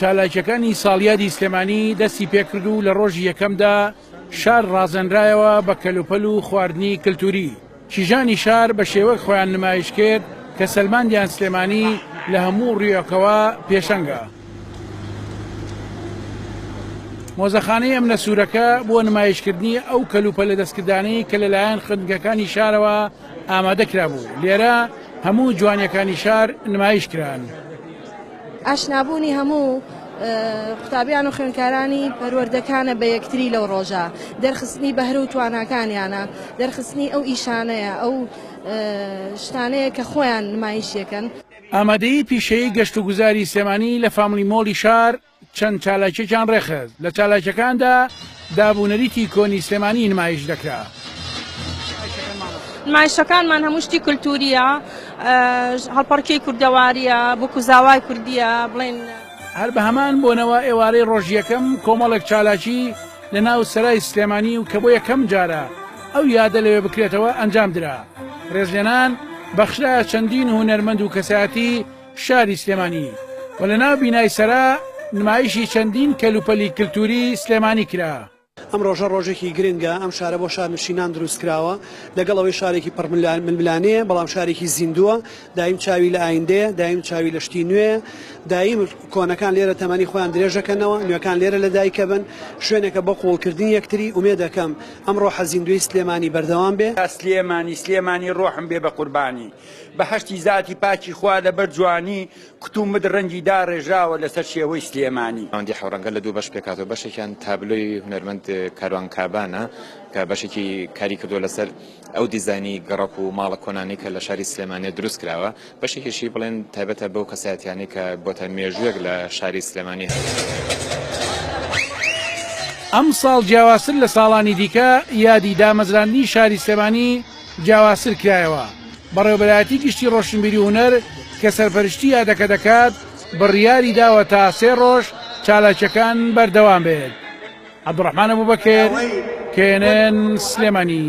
چالاکیەکانی ساڵیادی سلێمانی دەستی پێکرد و لە ڕۆژی یەکەمدا شار ڕازێنرایەوە بە کەلوپەل و خواردنی کللتوری کیژانی شار بە شێوەک خۆیان نمایش کرد کە سەلماندیان سلێمانی لە هەموو ڕویەکەوە پێشەنگە مۆزەخانەی ئەم نەسوورەکە بۆ نمایشکردنی ئەو کەلوپە لە دەستکردانەی کە لەلایەن خوێندگەکانی شارەوە ئامادە کرابوو، لێرە هەموو جوانیەکانی شار نمایش کران. ئاشنابوونی هەموو قوتابیان و خوێندکارانی پەروەردەکانە بە یەکتری لەو ڕۆژە، دەرخستنی بەهرە و تواناکانیانە، دەرخستنی ئەو ئیشانەیە، ئەو شتانەیە کە خۆیان نمایشیەکەن. ئامادەیی پیشەیی گەشتوگوزاری سلێمانی لە فاملی مۆڵی شار. چەند چالاکیەکیان ڕێکخست لە چالاکیەکاندا داب و نەریتی کۆنی سلێمانی نمایش دەکرا. نمایشەکانمان هەموو شتی کولتووریە هەڵپەڕکێی کوردەواریە بۆ کوزاوای کوردیە بڵێن. هەر بە هەمان بۆنەوە ئێوارەی ڕۆژ یەکەم کۆمەڵێک چالاکی لە ناو سەرای سلێمانی و کە بۆ یەکەم جارە ئەو یادە لەوێ بکرێتەوە ئەنجام درا ڕێزلێنان بەخشرایە چەندین هونەرمەند و کەسایەتی شاری سلێمانی و لە ناو بینای سەرا نمایشی چەندین کەلوپەلی کلتوری سلێمانی کرا. ئەم ڕۆژە ڕۆژێکی گرنگە، ئەم شارە بۆ شارنشینان دروست کراوە، لەگەڵ ئەوەی شارێکی پڕ ململانێیە، بەڵام شارێکی زیندووە، دایم چاوی لە ئایندەیە، دایم چاوی لە شتی نوێیە، دایم کۆنەکان لێرە تەمەنی خۆیان درێژ دەکەنەوە، نوێکان لێرە لە دایک ئەبن، شوێنێکە بۆ قووڵکردنی یەکتری، ئومێد ئەکەم ئەم ڕۆحە زیندووەی سلێمانی بەردەوام بێ. سلێمانی سلێمانی ڕۆحم بێ بە قوربانی. بەهەشتی زاتی پاکی خوا لەبەر جوانی کوت و مت ڕەنگی داڕێژراوە لەسەر شێوەی سلێمانی. ناوەندی حەوڕەنگە لە دوو بەش پێکهاتووە، بەشێکیان تابلۆی هونەرمەند کاروان کابانە کە بەشێکی کاری کردووە لەسەر ئەو دیزاینی گەڕەک و ماڵە کۆنانەی کە لە شاری سلێمانییە دروست کراوە، بەشێکیشی بڵێن تایبەتە بەو کەسایەتییانەی کە بۆتە مێژوویەک لە شاری سلێمانی هەن. ئەمساڵ جیاوازتر لە ساڵانی دیکە یادی دامەزراندنی شاری سلێمانی، جیاوازتر کرایەوە. بەڕێوەبەرایەتی گشتی ڕۆشنبیری و هونەر کە سەرپەرشتی یادەکە دەکات، بڕیاری داوە تا سێ ڕۆژ چالاکییەکان بەردەوام بێت. عەبدوڕەحمان ئەبوبەکر، knn، سلێمانی.